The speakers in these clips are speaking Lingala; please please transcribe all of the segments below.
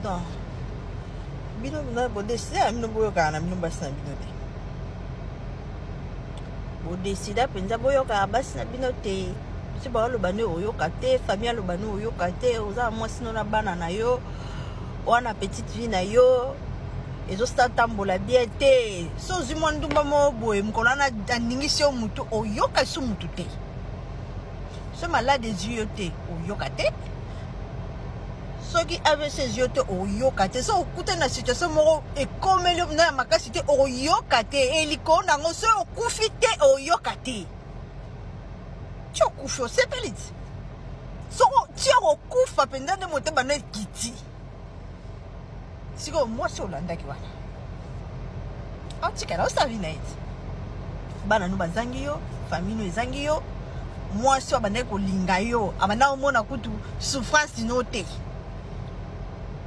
non bino bino bodeside ya bino boyokaka na bino basi na bino te bodesida mpenza boyokaka basi na bino te biso baoloba nde oyoka te famille aloba nde oyoka te oza mwasi no na bana na yo wana petite vie na yo ezosatambola bien te so ozwi mwa ndumba moko boye mokolo wana aningisi yo motu oyoka esu motu te so malade ezwi yo te oyoka te soki avc ezwi yo te okoyoka te soki okutani na situation moko ekomeli yo mpenza ya makasi te okoyoka te elikolo na yango soki okufi te okoyoka te ti okufi osepeli ti soki ti okokufa mpenza nde motema na ekiti sikoyo mwasi olandaki wana atikala osavi na ye ti bana no bazangi yo famille no ezangi yo mwasi oyo abandaki kolinga yo abandaki komona kutu souffrance no te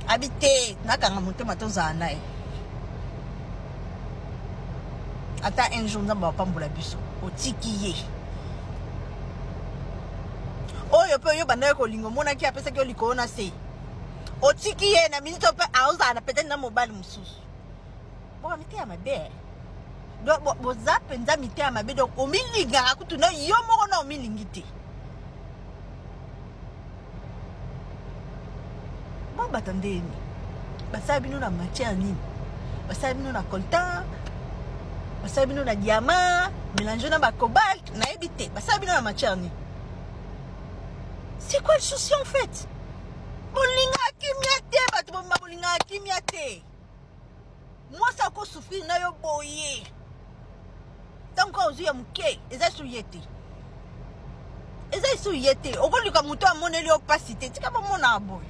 abi te nakanga motema tozala na ye ata un jour nzambe apambola biso otiki ye oyo mpe oyo bandaki kolinga omonaki apesaki yo likolo na se otiki ye na minute mpe aozala na peut-être na mobali mosusu boka miteya mabe donc boza mpenza miteya mabe donc omilingaka kutu na yo moko na omilingi te bobata ndeni basala bino na matière nini basala bino na coltan basala bino na diamant mélange na bacobalt nayebi te basala bino na matière nini c'est quoi le souci en fait bolingaka kimia te bato bobima bolingaka kimia te mwasi akosufrire na yo boye ntango kaka ozwi ya moke eza esu ye te eza esu ye te okoluka moto amoneli yo mpasi te tika bamonaka boye